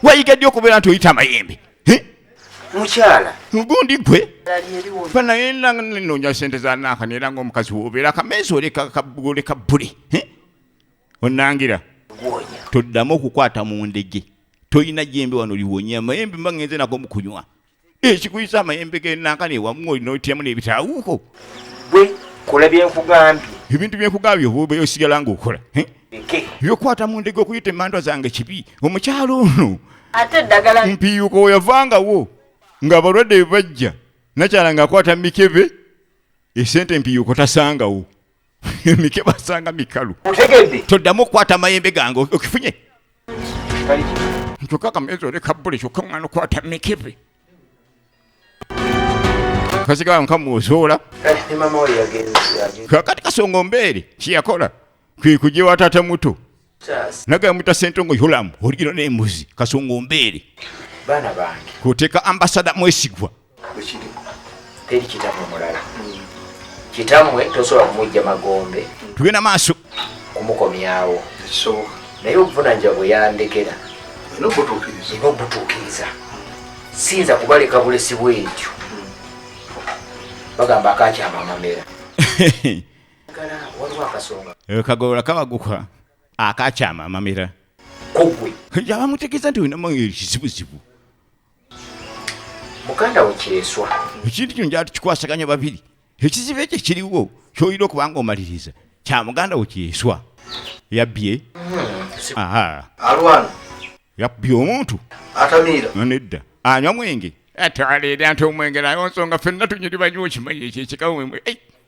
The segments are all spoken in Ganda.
wayiga ddi okubeera nti oyita amayembe mukyala mugundi gwe banaye nonya sente zanaka nera nga omukazi wobeera kameezi oleka buli onangira toddamu okukwata mu ndege tolina jembe wano liwonya mayembe mba ngenze nako mukunywa ekikuyisa amayembe genankana ewamu olina otyamu n'ebitawuko gwe kola byenkugambye ebintu byenkugambye oba osigala ngaokola byokwata mu ndege okuyita emandwa zange kibi omukyalo ono ate eddagala mpiiyuka oyavangawo ng'abalwadde bajja nakyala ng'akwata mikebe esente mpiiyuko tasangawo emike basanga mikalu otegedde toddamu okukwata amayembe gange okifunye kyokka kameezi oleka buli kyokka mwana okwata mikebe kasigala nkamuozoola kakati kasonga ombeere kyeyakola kwekujewa tata muto nagala mwita sentongo yolamu oligino nembuzi kasonga ombeere baana bange kwoteeka ambasada mwesigwa teri kitamwe mulala kitamwe tosobola kumujja magombe tugenda maaso kumukomyawo naye obuvunanja bweyandekera ina obutuukiriza siyinza kubaleka bulesi bwentyo bagamba akakyamamamera Eh, kagolola kabaguka akakyama amamira kugwe abamutegeeza nti olinamu ekizibuzibu muganda we kyeswa ekintu kino njala tukikwasaganya babiri ekizibu ekyo kiriwo kyolina okuba nga omaliriza kya muganda we kyeswa yabbye hmm, alwana yabbye omuntu atamiira nedda anywa mwenge atwalira nti omwenge nayo nsonga fenna tunyiri banyiwa okimanyi ekyo ekikawe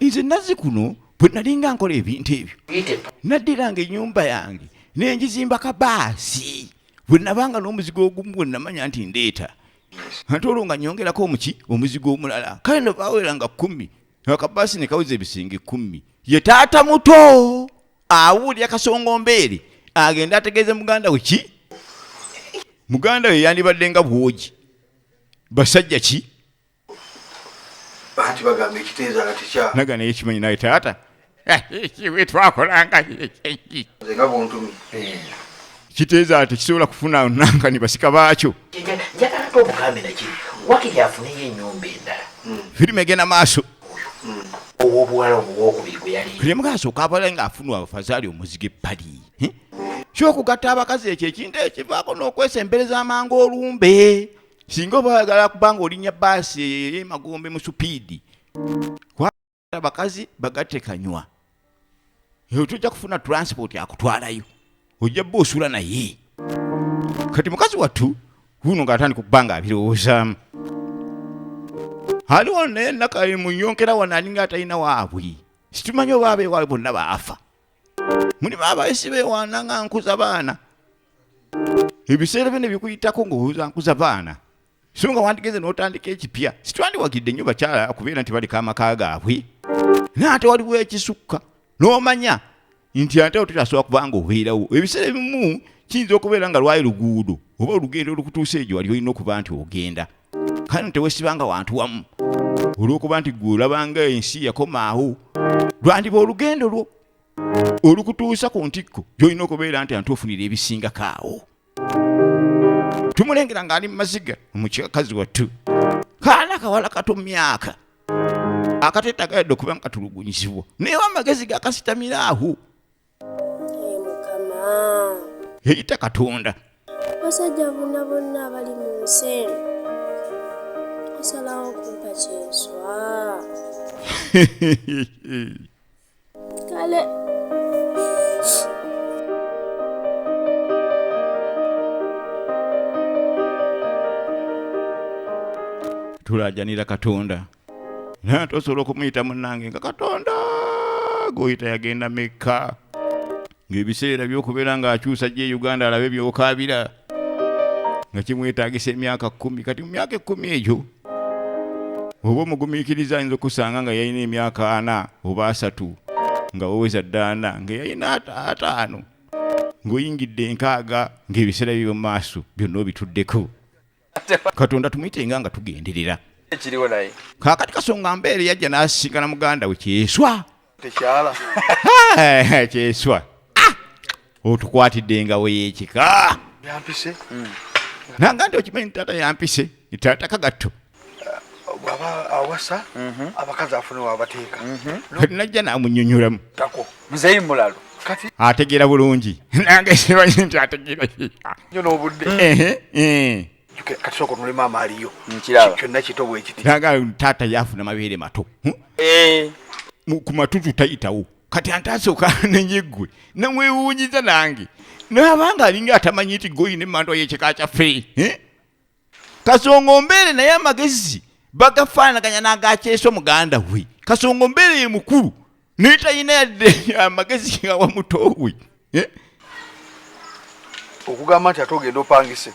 nze nazzi kuno bwe nalinga nkola ebintu ebyo naddiranga ennyumba yange nengizimba kabaasi bwe nabanga n'omuzigo ogumu bwe namanya nti ndeeta ate olwo nga nyongerako omuki omuzigo omulala kale no baweranga kumi akabaasi ne kaweza ebisinga ekkumi ye taata muto awulira kasongo mbeere agenda ategeeze muganda we ki muganda we yandibadde nga bwogi basajja ki anti bagamba ekiteeza nga tekya naga naye kimanyi naye taata wetwakolanga nga buntumi kiteeza ati kisobola kufuna nankani basika baakyo njagala to obugambe nakiri wakiri afuneyo enyumba endala hmm. firimu egenda maaso hmm. owobuwala omuwokubiri gwe yali lemugasa okabala nga afunwa abafazaali omuzige pali kyokugatta abakazi ekyo ekintu ekivaako n'okwesembereza amangu olumbe singa oba oyagala kubanga olinya baasi eyo emagombe mu supiidi abakazi bagatte kanywa eyo tojja kufuna transport akutwalayo ojja bba osula naye kati mukazi wattu wuno ngaatandika okubanga abirowoozaamu aliwo naye nakamuyonkera wano alinga atalina waabwe situmanyi oba abewaabwe bonna baafa mulimu abayisi bewaana nga nkuza baana ebiseera byo nebikuyitako ngaoza nkuza baana so nga wandigenze n'otandika ekipya sitwandiwagidde nnyo bakyala okubeera nti baleka amaka gaabwe naye ate waliwo ekisukka n'omanya nti ate ototasobola kubanga obeerawo ebiseera ebimu kiyinza okubeera nga lwali luguudo oba olugendo olukutuusa egyo wali olina okuba nti ogenda kano tewesibanga wantu wamu olw'okuba nti gwe olabanga ensi yakomaawo lwandiba olugendo lwo olukutuusa ku ntikko gyolina okubeera nti antuofunira ebisingako awo tumulengera ng'ali mu maziga omukyakazi wattu kaana kawala kato myaka akateetagaadde okuba nga katulugunyizibwa naye amagezi gakasitamira awo yeyita katonda basajja bonna bonna abali mu nsi eno osalawo kumpa kyenswa kale tulajanira katonda naye ate osobola okumuyita munange nga katonda gwoyita yagenda mekka ng'ebiseera byokubeera ng'akyusa gye uganda alabe byokaabira nga kimwetagisa emyaka kumi kati mu myaka ekkumi egyo oba omugumiikiriza ayinza okusanga nga yalina emyaka ana oba asatu nga woweza ddaana nga yalina ataano ng'oyingidde enkaaga ng'ebiseera bibyo mu maaso byonna obituddeko katonda tumuyitenga nga tugenderera ekiriwo naye kakati kasonga mbeere yajja n'asisinkana muganda we kyeswa tekyala kyeswa ah! otukwatidde nga weyekika yampise hmm. nanga nti okimanyi nti taata yampise ni taata kagatto bwaba awasa mhm. abakazi afuna wabateeka mhm. kati najja namunyonyoramu tako Mzeyi Mulalu kati ategeera bulungi nange simanyi nti ategeera nyo n'obudde kati sooka onule maama aliyo kyonna kito bwekiti naga taata yaafuna mabeere mato hm? eh. ku matutu tayitawo kati antasooka nenyeggwe namwewuunyiza nange naabanga alinga atamanyi nti goyina emandwa yekika kyaffe eh? kasongo mbeere naye amagezi bagafaanaganya n'agakyeso muganda we kasongo mbeere ye mukulu naye talina yadde amagezi nga wamuto we eh? okugamba nti ate ogenda opangise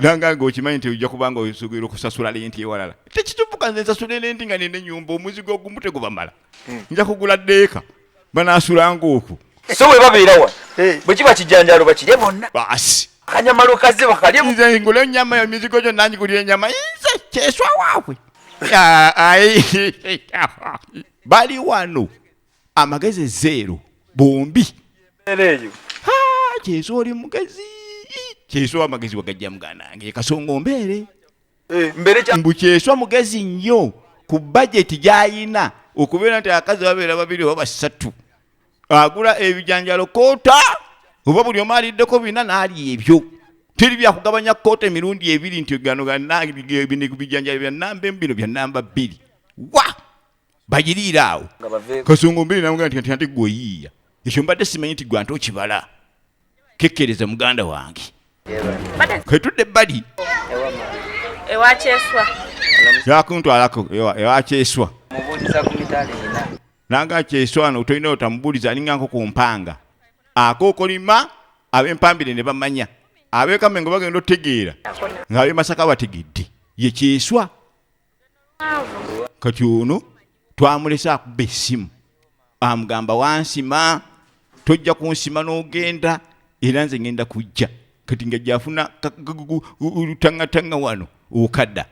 nanga nga okimanyi nti ojja kubanga osugire okusasula lenti ewalala tekitubuka nze nsasula elenti nga nina enyumba omuzigo ogumu tegubamala hmm. nja kugula deeka banasulanga okwo so webabeera wa eh. bwekiba kijanjalo bakirye bonna basi kanyama lukazi bakalyemnze ngula enyama yo mizigo gyo nangigulira enyama inze kyeswa waabwe bali wano amagezi zeero bombi kyeswa oli mugezi kyeswa amagezi wagajja muganange kasonga ombeere eh, mbu kyeswa mugezi nnyo ku bajeti gyayina okubeera nti abakazi babeera babiri oba basatu agula ebijanjalo koota oba buli omu aliddeko bina naalya ebyo teri byakugabanya koota emirundi ebiri nti gano bijanjalo byanamba emu bino byanamba bbiri wa bagiriire awo kasongo mbere namugamba nti nti gwe oyiiya ekyo mbadde simanyi nti gwe ante okibala kekkereza muganda wange ketudde ebbali ewakyeswa yakuntwalako ewakyeswa nanga kyeswa no tolina otamubuuliza alinga nko ku mpanga akookolima ab'empambire ne bamanya ab'ekamengo bagenda otegeera ng'ab'emasaka bategedde ye kyeswa kati ono twamulese akuba essimu amugamba wansima tojja kunsima n'ogenda era nze ngenda kujja kati nga gyafuna lutangatanga wano okada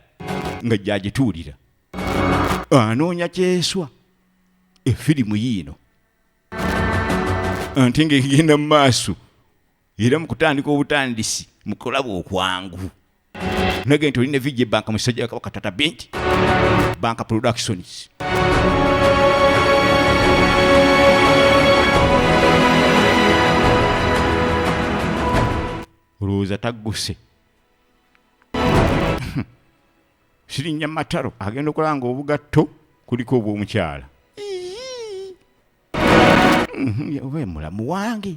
nga gyagituulira anoonya kyeswa efirimu yiino ante nga egenda mu maaso era mukutandika obutandisi mukulaba okwangu nage nti olina vijja ebanka musajja wakabaka tata binti banka productions olowooza tagguse sirinnya mataro agenda okulaba nga obugatto kuliko obw'omukyala oba mulamu wange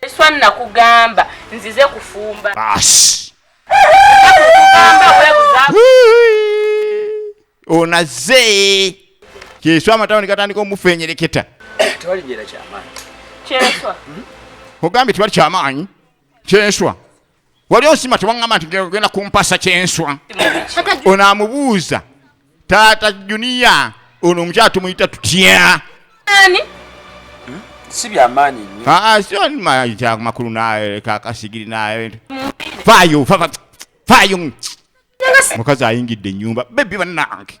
Eswa nakugamba nzize kufumba. Basi. Onaze. Kyeswa amatawuni gatandika omufenyereketa. Tewali byera kyamaanyi. Kyeswa. Hmm? Ogambye tewali kyamaanyi. Kyeswa. wali osima tewaŋŋamba nti genda kumpasa kyenswa ono amubuuza taata juniya ono omukyala tumuyita tutya si byamaanyi nyomakulu nakakasigiri naebintu fayo fayo mukazi ayingidde enyumba bebi banange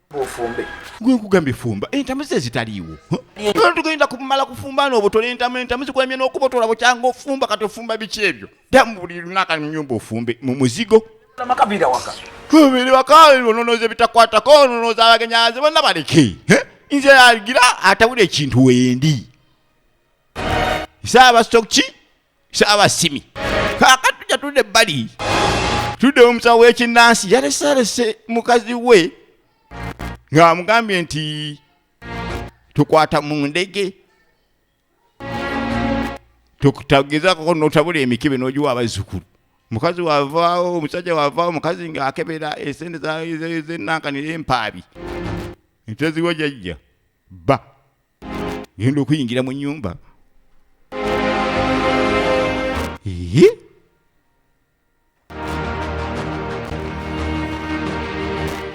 ofumbe gwe nkugambye fumba entamu ze zitaliiwo tugenda kumala kufumba n'obutola entamu entamu zikwemye n'okubotola bukyanga ofumba kati ofumba biki ebyo damu buli lunaka nyumba ofumbe mu muzigo amakabira waka biri waka ononooza ebitakwatako ononooza abagenyazi bonna baleke nze yagira atawula ekintu wendi saabasokki saabasimi kaakati tujja tudde ebbali tudde omusawo w'ekinnansi yalesealese mukazi we ng'amugambye nti tukwata mu ndege tukutagezako notabula emikebe nogiwa abazzukulu mukazi wavaawo omusajja wavaawo omukazi ng'akebera esente zenankanira empaabi nteziwo jajja bba ngenda okuyingira mu nyumba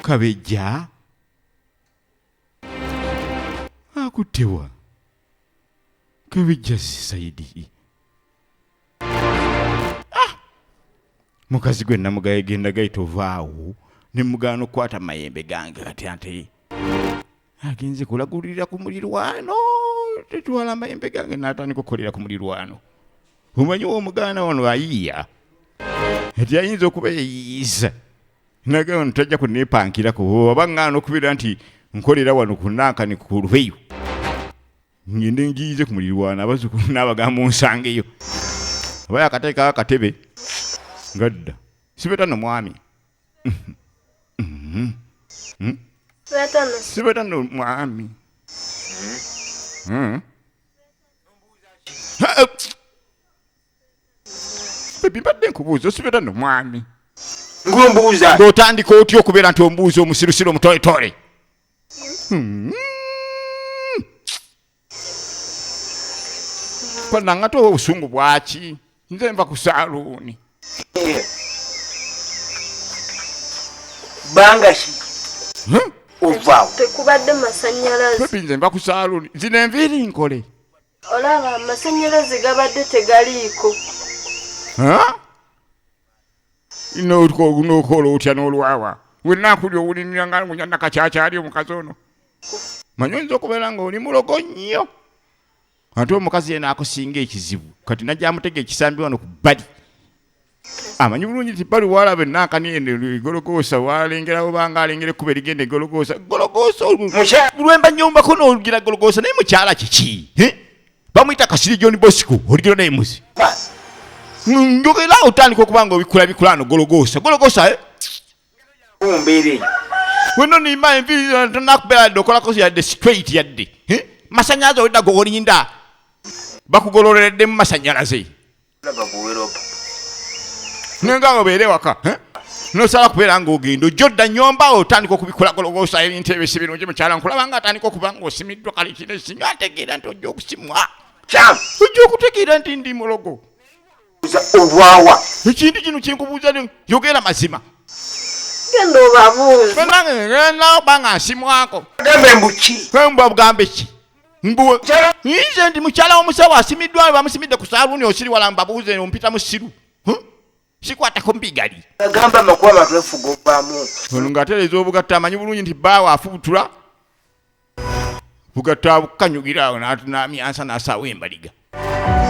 kabejja akuttewa kabejja sisaidi ah! mukazi gwe namugaye genda gaita ovaawo nemugaana okukwata mayembe gange kati ante agenze kulagulira ku mulirwano tetwala amayembe gange natandika okukolera ku mulirwano omanyi womuganda wano ayiya ati ayinza okuba yeyiyiza naga wano tajja kunepankirako oba ŋŋaana okubeera nti nkolera wano kunankani ku lweyo ngende ngiyize ku mulirwano abazukulu n'abagambo nsangeyo aba yakateekako akatebe ngadda sibeta nomwami sibatano mwami Hmm. Ha, eh, bebi mbadde nkubuuza osibatano mwami ngombuuza ng'otandika otya okubeera nti ombuuza omusirusiru omutoletole panangate oba obusungu bwaki nze nva ku saluuni bangaki ovaawo tekubadde masanyalazi nze nva ku saluuni zino enviiri nkole olaba amasanyalaze gabadde tegaliiko nokola otya nolwawa wenakuli owulinira nga ngunya nakakyakyali omukazi ono manyi oyinza okubeera nga oli mulogo nnyo ate omukazi yena akusinga ekizibu kati najamutega ekisambi wano ku bbali amanyi bulungi ti bali walabe nakanienegologoosa walengerawo banga alengera ekkuba erigenda egologoosa gologoosa lwemba nyombako nolugira gologoosa naye mukyala kiki bamuyita kasiri john bosco oligiro naye muzi njogera otandika okuba nga obikula bikulano gologosa gologosa eh? mumbeera eyo wena onimba enviri tonakubeera yadde okolako yadde straight yadde eh? masanyalaze owedda gogolinda bakugololereddemu masanyalaze nenga awo beere waka eh? nosala kubeera ngaogenda ojja odda nyumba otandika okubikulagologosa ebintu ebyo si birungi mukyala nkulaba nga atandika okuba nga osimiddwa kale kino esinyo ategeera nti ojja okusimwa ojja okutegeera nti ndi mulogo obwawa ekintu kino kinkubuuza yogera mazima genda obabuuza banange ngenda oba nga nsimwako gambe mbuki kwe mbuba bugambe ki mbuwe nze ndi mukyala womusawo asimiddwa bamusimidde ku saaluuni osiri wala mbabuuze ompita musiru sikwatako mbigali agamba amakuba abantu efuga ovamu ono ng'atereeza obugatta amanyi bulungi nti bbaawo afubutula bugatta bukanyugira awo n'atunamyansa n'asaawo embaliga